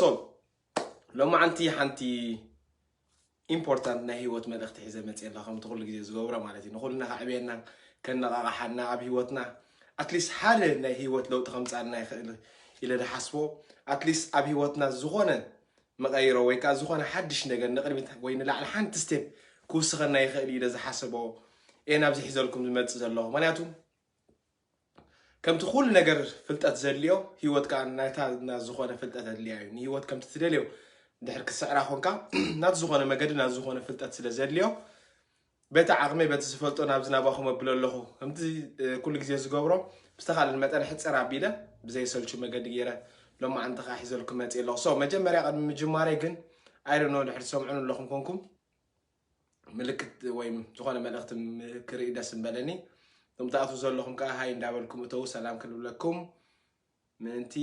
ሶ ሎማዓንቲ ሓንቲ ኢምፖርታንት ናይ ሂወት መልእኽቲ ሒዘ መፅየ ኣለኹ ከምቲ ኩሉ ግዜ ዝገብሮ ማለት እዩ ንኹልና ከዕብየና ከነቓቕሓና ኣብ ሂወትና ኣትሊስት ሓደ ናይ ሂወት ለውጢ ከምፃልና ይኽእል ኢለ ዝሓስቦ ኣትሊስት ኣብ ሂወትና ዝኾነ መቐይሮ ወይ ከዓ ዝኾነ ሓድሽ ነገር ንቕድሚት ወይ ንላዕሊ ሓንቲ ስቴፕ ክውስኸና ይኽእል ኢለ ዝሓሰቦ እየ ናብዚ ሒዘልኩም ዝመፅእ ዘለኹ ምክንያቱ ከምቲ ኩሉ ነገር ፍልጠት ዘድልዮ ህይወት ከኣ ናይታ ናብ ዝኾነ ፍልጠት ኣድልያ እዩ ንህይወት ከምቲ ትደልዮ ድሕር ክስዕራ ኮንካ ናት ዝኾነ መገዲ ናት ዝኾነ ፍልጠት ስለ ዘድልዮ በቲ ዓቕመይ በቲ ዝፈልጦ ናብዚ ናባኹም ኣብሎ ኣለኹ ከምቲ ኩሉ ግዜ ዝገብሮ ብዝተኻልን መጠን ሕፅር ኣቢለ ብዘይሰልቹ መገዲ ገይረ ሎማዓንቲ ከዓ ሒዘልኩም መፅእ ኣለኹ ሶ መጀመርያ ቅድሚ ምጅማረይ ግን ኣይደኖ ድሕር ትሰምዑን ኣለኹም ኮንኩም ምልክት ወይ ዝኾነ መልእኽቲ ክርኢ ደስ ምበለኒ እቶም ትኣትዉ ዘለኹም ከዓ ሃይ እንዳበልኩም እተዉ ሰላም ክንብለኩም ምእንቲ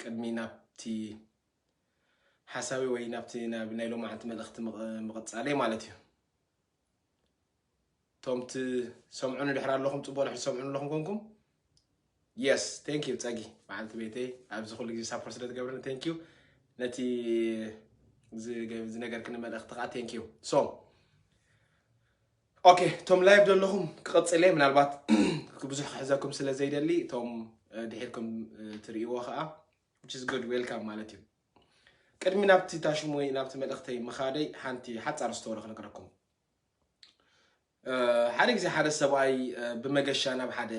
ቅድሚ ናብቲ ሓሳቢ ወይ ናብቲ ናይ ሎማዓንቲ መልእኽቲ ምቕፃለይ ማለት እዩ እቶም ትሰምዑኒ ድሕር ኣለኹም ፅቡቅ ድሕር ትሰምዑኒ ኣለኹም ኮንኩም የስ ቴንክ ዩ ፀጊ በዓልቲ ቤተይ ኣብዚ ኩሉ ግዜ ሳፖርት ስለ ትገብርኒ ቴንክ ዩ ነቲ ዝነገርክኒ መልእኽቲ ከዓ ቴንክ ዩ ሶ ኦኬ እቶም ላይቭ ዘለኹም ክቕፅል እየ ምናልባት ብዙሕ ክሕዘኩም ስለ ዘይደሊ እቶም ድሒርኩም ትርእይዎ ከዓ ዊች ኢዝ ጉድ ዌልካም ማለት እዩ ቅድሚ ናብቲ ታሽሙ ወይ ናብቲ መልእኽተይ ምኻደይ ሓንቲ ሓጻር ስተወሪ ክነግረኩም ሓደ ግዜ ሓደ ሰብኣይ ብመገሻ ናብ ሓደ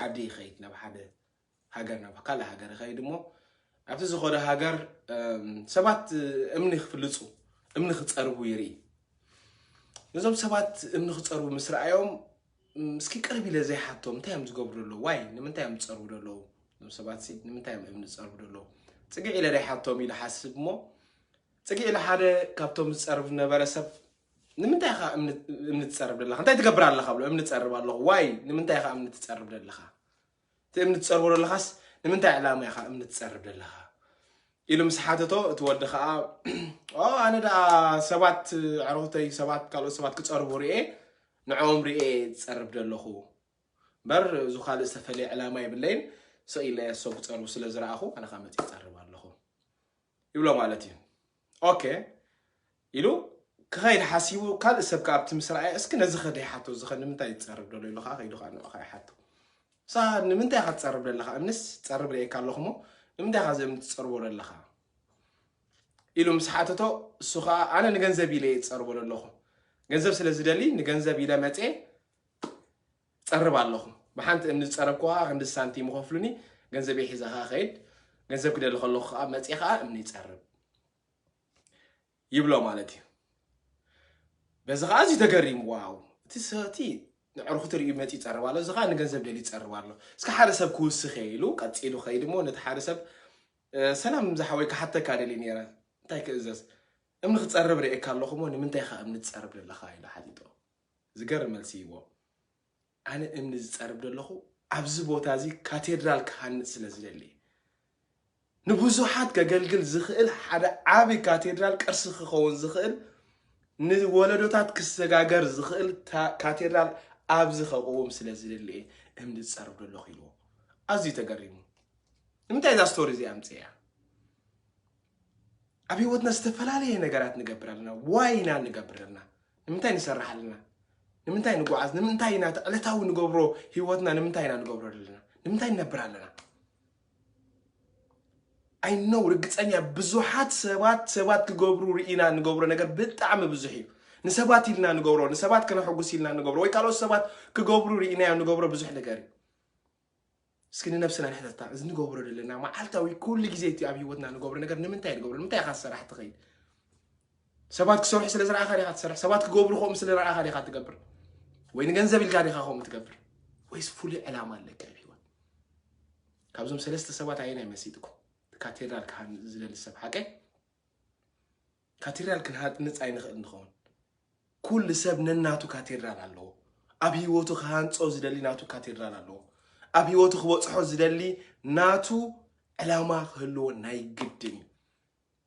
ዓዲ ይኸይድ ናብ ሓደ ሃገር ናብ ካልእ ሃገር ይኸይድ እሞ ኣብቲ ዝኾነ ሃገር ሰባት እምኒ ክፍልፁ እምኒ ክፀርቡ ይርኢ ነዞም ሰባት እምኒ ክፀርቡ ምስ ረኣዮም እስኪ ቅርብ ኢለ ዘይሓቶም እንታይ እዮም ዝገብሩ ዘለዉ ዋይ ንምንታይ እዮም ዝፀርቡ ዘለዉ እዞም ሰባት ሲ ንምንታይ እዮም እምኒ ዝፀርቡ ዘለዉ ፅግዕ ኢለ ዘይሓቶም ኢለ ሓስብ እሞ ፅግዕ ኢለ ሓደ ካብቶም ዝፀርብ ዝነበረ ሰብ ንምንታይ ኢኻ እምኒ እምኒ ትፀርብ ዘለኻ እንታይ ትገብር ኣለኻ ብሎ እምኒ ትፀርብ ኣለኹ ዋይ ንምንታይ ኢኻ እምኒ ትፀርብ ዘለኻ እቲ እምኒ ትጸርቦ ዘለኻስ ንምንታይ ዕላማ ኢኻ እምኒ ትጸርብ ዘለኻ ኢሉ ምስ ሓተቶ እቲ ወዲ ከዓ ኣነ ደኣ ሰባት ዕረኹተይ ሰባት ካልኦት ሰባት ክጸርቡ ርኤ ንዕኦም ርኤ ዝጸርብ ዘለኹ እምበር እዙ ካልእ ዝተፈለየ ዕላማ የብለይን ስቕ ኢለ ሰብ ክጸርቡ ስለ ዝረኣኹ ኣነ ከዓ መፅእ ይጸርብ ኣለኹ ይብሎ ማለት እዩ ኦከ ኢሉ ክኸይድ ሓሲቡ ካልእ ሰብ ከዓ ኣብቲ ምስ ረኣየ እስኪ ነዚ ከደ ይሓቶ እዚ ከ ንምንታይ ትፀርብ ደሎ ኢሉ ከዓ ከይዱ ከዓ ንዑ ከዓ ይሓቶ ሳ ንምንታይ ኢኻ ትፀርብ ደለኻ እምንስ ፀርብ ርእየካ ኣለኹ እሞ ንምንታይ ኢኻ ዘም ትፀርቦ ደለኻ ኢሉ ምስ ሓተቶ እሱ ከዓ ኣነ ንገንዘብ ኢለ እየ ዝፀርቦ ደለኹ ገንዘብ ስለ ዝደሊ ንገንዘብ ኢለ መፀ ትጸርብ ኣለኹ ብሓንቲ እምኒ ዝጸረብኩዋ ክንዲ ሳንቲም ይኸፍሉኒ ገንዘበይ ሒዘ ከኣ ከይድ ገንዘብ ክደሊ ከለኹ ከኣ መጽየ ከኣ እምኒ ይጸርብ ይብሎ ማለት እዩ በዚ ከዓ እዚ ተገሪሙ ዋው እቲ ሰቲ ንዕርኹ ትርእዩ መፂ ይፀርብ ኣሎ እዚ ከዓ ንገንዘብ ደሊ ይፀርብ ኣሎ እስከ ሓደ ሰብ ክውስኽ እየ ኢሉ ቀፂሉ ከይድ እሞ ነቲ ሓደ ሰብ ሰላም ዝሓወይ ክሓተካ ደሊ ነረ እንታይ ክእዘዝ እምኒ ክፀርብ ርእየካ ኣለኹ እሞ ንምንታይ ካ እምኒ ትፀርብ ዘለካ ኢሉ ሓቲቶ ዝገርም መልሲ እዩዎ ኣነ እምኒ ዝፀርብ ደለኹ ኣብዚ ቦታ እዚ ካቴድራል ክሃንፅ ስለ ዝደሊ ንብዙሓት ከገልግል ዝኽእል ሓደ ዓቢ ካቴድራል ቅርሲ ክኸውን ዝኽእል ንወለዶታት ክሰጋገር ዝኽእል ካቴድራል ኣብዚ ከቕውም ስለ ዝደሊ እየ እምኒ ዝፀርብ ደለኹ ኢልዎ ኣዝዩ ተገሪሙ ንምንታይ እዛ ስቶሪ እዚ ኣምፅያ ኣብ ህይወትና ዝተፈላለየ ነገራት ንገብር ኣለና ዋይ ኢና ንገብር ኣለና ንምንታይ ንሰርሕ ኣለና ንምንታይ ንጓዓዝ ንምንታይ ኢና እቲ ዕለታዊ ንገብሮ ህይወትና ንምንታይ ኢና ንገብሮ ኣለና ንምንታይ ንነብር ኣለና ኣይ ነው ርግፀኛ ብዙሓት ሰባት ሰባት ክገብሩ ርኢና ንገብሮ ነገር ብጣዕሚ ብዙሕ እዩ ንሰባት ኢልና ንገብሮ ንሰባት ከነሐጉስ ኢልና ንገብሮ ወይ ካልኦት ሰባት ክገብሩ ርኢናዮ ንገብሮ ብዙሕ ነገር እዩ እስኪ ንነብስና ንሕተታ እዚ ንገብሮ ዘለና መዓልታዊ ኩሉ ግዜ እቲ ኣብ ሂወትና ንገብሮ ነገር ንምንታይ ንገብሮ ንምንታይ ኢኻ ዝሰራሕ ትኸይድ ሰባት ክሰርሑ ስለ ዝረኣኻ ዲኻ ትሰርሕ ሰባት ክገብሩ ከምኡ ስለ ረኣኻ ዲኻ ትገብር ወይ ንገንዘብ ኢልካ ዲኻ ከምኡ ትገብር ወይስ ፍሉይ ዕላማ ኣለካ ኣብ ሂወት ካብዞም ሰለስተ ሰባት ኣየናይ መሲጥኩም ካቴድራል ካህን ዝደሊ ሰብ ሓቀይ ካቴድራል ክንሃንጽ ኣይንኽእልን ንኸውን። ኩሉ ሰብ ነናቱ ካቴድራል ኣለዎ። ኣብ ህይወቱ ክሃንጾ ዝደሊ ናቱ ካቴድራል ኣለዎ። ኣብ ህይወቱ ክበጽሖ ዝደሊ ናቱ ዕላማ ክህልዎ ናይ ግድን እዩ።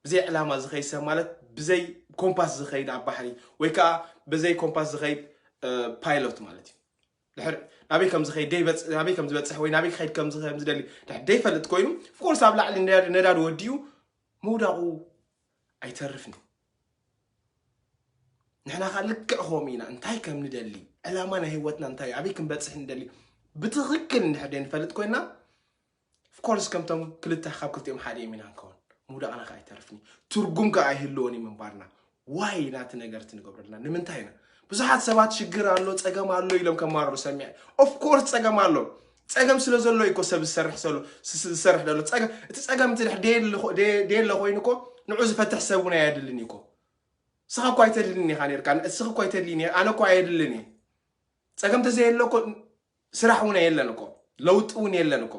ብዘይ ዕላማ ዝኸይድ ሰብ ማለት ብዘይ ኮምፓስ ዝኸይድ ኣብ ባሕሪ ወይ ከዓ ብዘይ ኮምፓስ ዝኸይድ ፓይሎት ማለት እዩ። ድሕር ናበይ ከም ዝኸይድ ናበይ ከም ዝበፅሕ ወይ ናበይ ክኸይድ ከም ዝደሊ ድሕር ደይፈልጥ ኮይኑ ፎርስ ኣብ ላዕሊ ነዳዲ ወዲኡ ምውዳቑ ኣይተርፍን ንሕና ከዓ ልክዕ ከምኡ ኢና እንታይ ከም ንደሊ ዕላማ ናይ ህይወትና እንታይ ኣበይ ክንበፅሕ ንደሊ ብትኽክል እንድሕር ደይንፈልጥ ኮይና ኦፍኮርስ ከምቶም ክልተ ካብ ክልቲኦም ሓደ እዮም ኢና ንከውን ምውዳቕና ከዓ ኣይተርፍን ትርጉም ከዓ ኣይህልዎን እዩ ምንባርና ዋይ ኢና እቲ ነገር እቲ ንገብረልና ንምንታይ ኢና ብዙሓት ሰባት ሽግር ኣሎ ፀገም ኣሎ ኢሎም ከማርሩ ሰሚዐ ኦፍኮርስ ፀገም ኣሎ ጸገም ስለ ዘሎ እዩ እኮ ሰብ ዝሰርሕ ዘሎ ዝሰርሕ ዘሎ ጸገም እቲ ጸገም እቲ ድሕር ደየለ ኮይኑ እኮ ንዑ ዝፈትሕ ሰብ እውን ኣየድልን እዩ እኮ ስኻ እኮ ኣይተድልን ኢኻ ነርካ እስኺ እኮ ኣይተድልን ኣነ እኮ ኣየድልን እዩ ጸገም ተዘየለ እኮ ስራሕ እውን የለን እኮ ለውጢ እውን የለን እኮ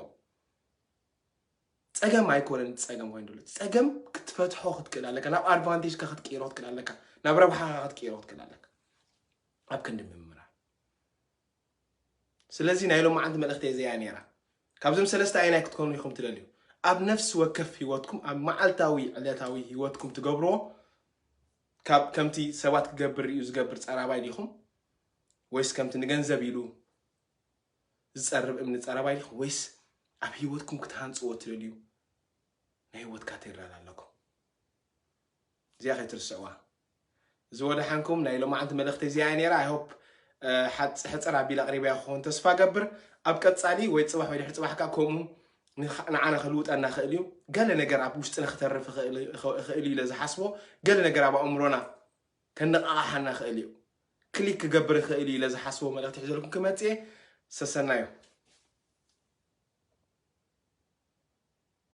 ጸገም ኣይኮነን ጸገም ኮይኑ ዘሎ ጸገም ክትፈትሖ ክትክእል ኣለካ ናብ ኣድቫንቴጅካ ክትቅይሮ ክትክእል ኣለካ ናብ ረብሓኻ ክትቅይሮ ክትክእል ኣለካ ኣብ ክንዲ ምምራር ስለዚ ናይ ሎማዓንቲ መልእኽተይ እዚኣ እያ ነይራ። ካብዞም ሰለስተ ኣየናይ ክትኮኑ ኢኹም ትደልዩ? ኣብ ነፍሲ ወከፍ ህይወትኩም ኣብ መዓልታዊ ዕለታዊ ህይወትኩም ትገብርዎ ካብ ከምቲ ሰባት ክገብር ሪኡ ዝገብር ጸራባይ ዲኹም ወይስ ከምቲ ንገንዘብ ኢሉ ዝጸርብ እምኒ ጸራባይ ዲኹም ወይስ ኣብ ህይወትኩም ክትሃንጽዎ ትደልዩ ናይ ህይወት ካቴድራል ኣለኩም እዚኣ ከይትርስዕዋ እዚ ወደሓንኩም ናይ ሎማዓንቲ መልእኽተይ እዚኣ እያ ነይራ i hope ሓጽ ሕጽር ኣቢለ ኣቕሪበያ ክኸውን ተስፋ እገብር ኣብ ቀጻሊ ወይ ጽባሕ ወይ ድሕሪ ጽባሕ ከኣ ከምኡ ንዓና ክልውጠና ይኽእል እዩ ገለ ነገር ኣብ ውሽጥና ክተርፍ ይኽእል እዩ ኢለ ዝሓስቦ ገለ ነገር ኣብ ኣእምሮና ከነቓቓሓና ይኽእል እዩ ክሊክ ክገብር ይኽእል እዩ ኢለ ዝሓስቦ መልእኽቲ ሒዘልኩም ክመጽእ እየ ሰሰናዩ